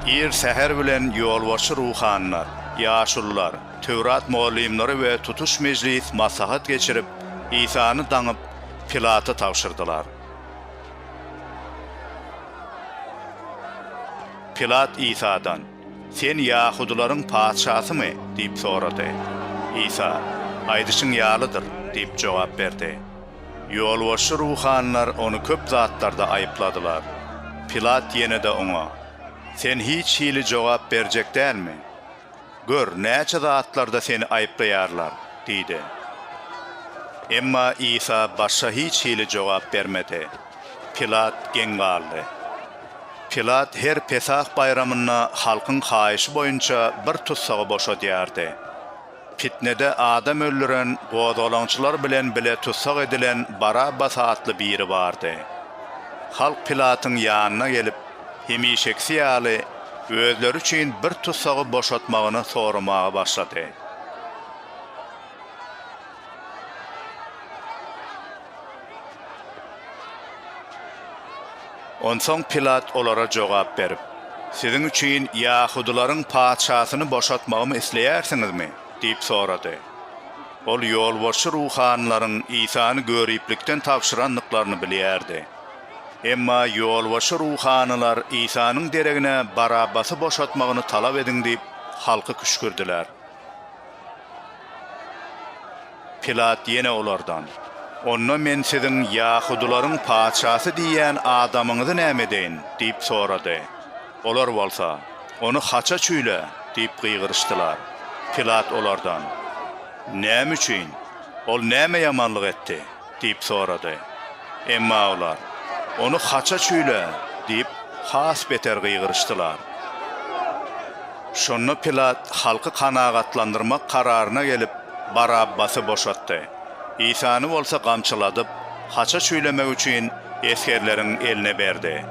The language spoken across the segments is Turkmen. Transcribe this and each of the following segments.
Ir säher bilen ýolbaşçy ruhanylar, ýaşulular, Töwrat mugallymlary we tutuş mejlis maslahat geçirip, Isany daňyp, Pilata tabşyrdylar. Pilat Isadan. Sen ýahudylaryň patyşasymy? diýip sorady. Isa, Aýdyşyň ýalydyr diýip jogap berdi. Ýolbaşçy ruhanylar ony köp zatlarda aýypladylar. Pilat ýene-de oňa, Sen hiç hili jogap berjek dälmi? Gör, näçe zatlarda seni aýyplaýarlar! diýdi. Emma Isa başga hiç hili jogap bermedi. Pilat geň galdy. Pilat her Pesah baýramynda halkyň haýyşy boýunça bir tussagy boşadýardy. Pitnede adam öldüren, gozgalaňçylar bilen bile tussag edilen Barabbas atly biri bardy. Halk Pilatyň ýanyna gelip, hemişekisi ýaly, özleri üçin bir tussagy boşatmagyny soramaga başlady. Onsoň Pilat olara jogap berip, Siziň üçin ýahudylaryň patyşasyny boşatmagymy isleýärsiňizmi? diýip sorady. Ol ýolbaşçy ruhanylaryň Isany göriplikden tabşyrandyklaryny bilýärdi. Emma ýolbaşçy ruhanylar Isanyň deregine Barabbasy boşatmagyny talap ediň diýip, halky küşgürdiler. Pilat ýene olardan, Onda men siziň ýahudylaryň patyşasy diýýän adamyňyzy näme edeýin? diýip sorady. Olar bolsa, Ony haça çüýle! diýip gygyryşdylar. Pilat olardan, Näme üçin? Ol näme ýamanlyk etdi? Diýip sorady. Emma olar, Ony haça çüýle! diýip, has beter gygyryşdylar. Şonda Pilat halky kanagatlandyrmak kararyna gelip, Barabbasy boşatdy. Isany bolsa gamçyladyp, haça çüýlemek üçin esgerleriň eline berdi.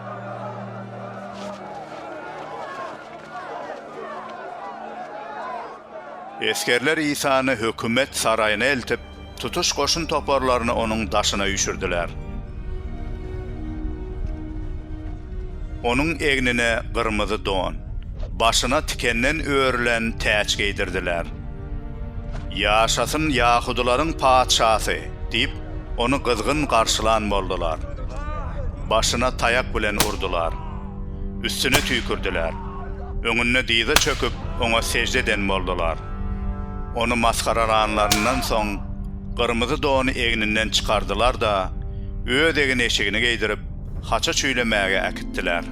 Esgerler Isany hökümet saraýyna eltip, tutuş goşun toparlaryny onuň daşyna üýşürdiler. Onuň egnine gyrmyzy don, başyna tikenden örülen täç geýdirdiler. Ýaşasyn ýahudylaryň patyşasy! diýip, ony gyzgyn garşylan boldular. Başyna taýak bilen urdular. Üstüne tüýkürdiler. Öňünde dyza çöküp, oňa sežde eden boldular. Ony masgaralanlaryndan soň, gyrmyzy dony egninden çykardylar-da, öz egin-eşigini geýdirip, haça çüýlemäge äkitdiler.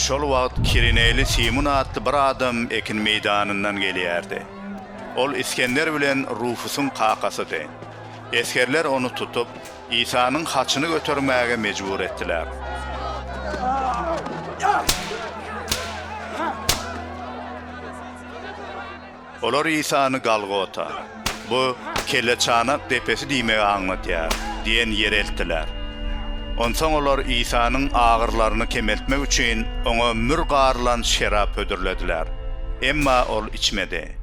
Şol wagt Kirineli Simun atly bir adam ekin meýdanyndan gelýärdi. Ol Isgender bilen Rufusyň kakasydy. Esgerler ony tutup, Isanyň haçyny götermäge mejbur etdiler. Olar Isany Galgota, bu Kelleçanak depesi diýmegi aňladýar, diýen ýere eltdiler. Onsoň olar Isanyň agyrlaryny kemeltmek üçin oňa mür garylan şerap hödürlediler. Emma ol içmedi.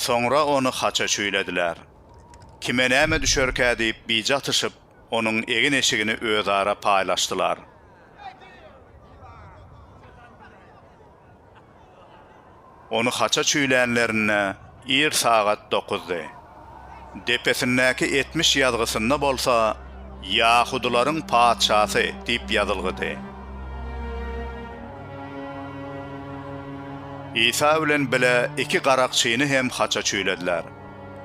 Soňra ony haça çüýlediler. Kime näme düşerkä diýip bije atyşyp, onuň egin-eşigini özara paýlaşdylar. Ony haça çüýlänlerinde ir sagat dokuzdy. Depesindäki etmiş ýazgysynda bolsa Ýahudylaryň patyşasy diýip ýazylgydy. Isa bilen bile iki garakçyny hem haça çüýlediler.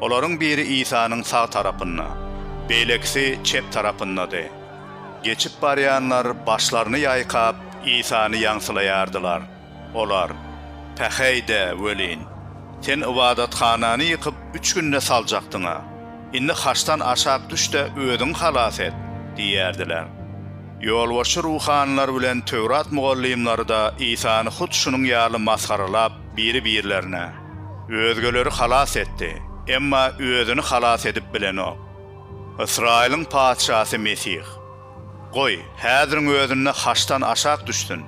Olaryň biri Isanyň sag tarapynda, beýlekisi çep tarapyndady. Geçip barýanlar başlaryny ýaýkap, Isany ýaňsylaýardylar. Olar, Päheý-de welin, Sen ybadathanany ýykyp, üç günde saljakdyň-a. Indi haçdan aşak düş-de, özüňi halas et! diýerdiler. Ýolbaşçy ruhanylar bilen Töwrat mugallymlary-da Isany hut şunuň ýaly masgaralap, biri-birlerine. Özgeleri halas etdi, emma özüni halas edip bilenok. Ysraýylyň Patyşasy Mesih. Goý, häziriň özünde haçdan aşak düşsün,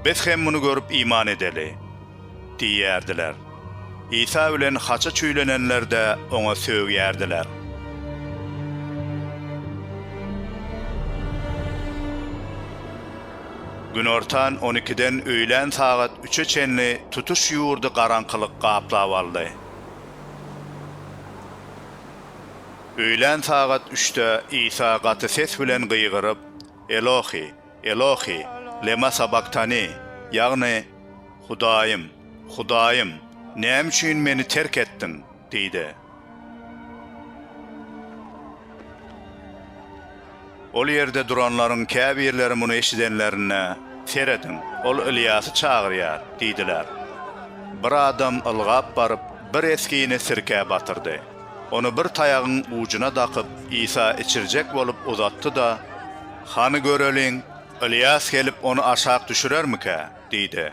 biz hem muny görüp iman edeli! diýerdiler. Isa bilen haça çüýlenenler-de oňa sögýärdiler. Günortan on ikiden öýlän sagat üçe çenli tutuş ýurdy garaňkylyk gaplap aldy. Öýlän sagat üçde Isa gaty ses bilen gygyryp, Elohi, Elohi, lema sabaktani, ýagny, Hudaýym, Hudaýym, näme üçin Meni terk etdiň? diýdi. Ol ýerde duranlaryň käbirleri muny eşidenlerinde, Serediň, ol Ylýasy çagyrýar! diýdiler. Bir adam ylgap baryp, bir esgini sirkä batyrdy. Ony bir taýagyň ujuna dakyp, Isa içirjek bolup uzatdy-da, Hany göreliň, Ylýas gelip, ony aşak düşürermikä? diýdi.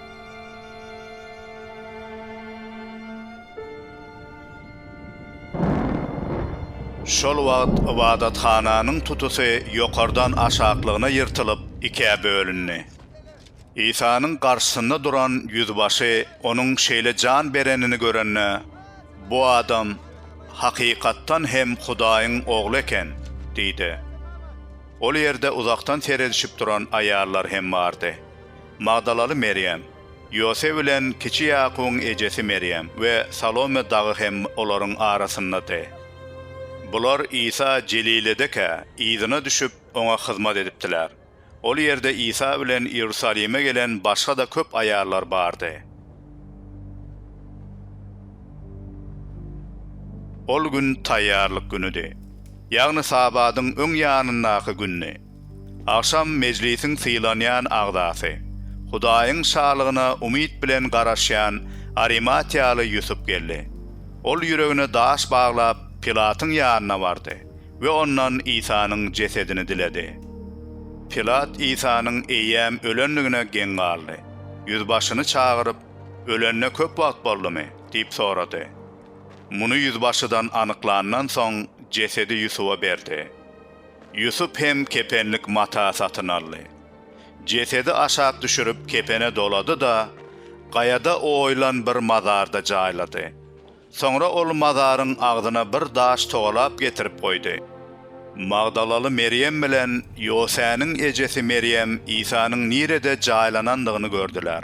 Şol wagt ybadathananyň tutusy ýokardan aşaklygyna ýyrtylyp, ikä bölündi. Isanyň garşysynda duran ýüzbaşy onuň şeýle jan berenini görende, Bu adam, hakykatdan hem, Hudaýyň Ogly eken! diýdi. Ol ýerde uzakdan seredişip duran aýallar hem bardy. Magdalaly Merýem, Ýosep bilen kiçi Ýakubyň ejesi Merýem we Salome dagy hem olaryň arasyndady. Bular Isa Jeliledekä yzyna düşüp, oňa hyzmat edipdiler. Ol ýerde Isa bilen Iýerusalime gelen başga-da köp aýallar bardy. Ol gün Taýýarlyk günüdi, ýagny Sabadyň öň ýanyndaky gündi. Agşam Mejlisiň sylanýan agzasy, Hudaýyň Şalygyna umyt bilen garaşýan arimatiýaly Ýusup geldi. Ol ýüregine daş baglap, Pilatyň ýanyna bardy we ondan Isanyň jesedini diledi. Pilat Isanyň eýýäm ölendigine geň galdy. Ýüzbaşyny çagyryp, Ölenine köp wagt boldumy? diýip sorady. Muny ýüzbaşydan anyklandan soň, jesedi Ýusuba berdi. Ýusup hem kepenlik mata satyn aldy. Jesedi aşak düşürip kepene dolady-da, gaýada oýulan bir mazarda jaýlady. Soňra ol mazaryň agzyna bir daş togalap getirip goýdy. Magdalaly Merýem bilen Ýosäniň ejesi Merýem Isanyň nirede jaýlanandygyny gördüler.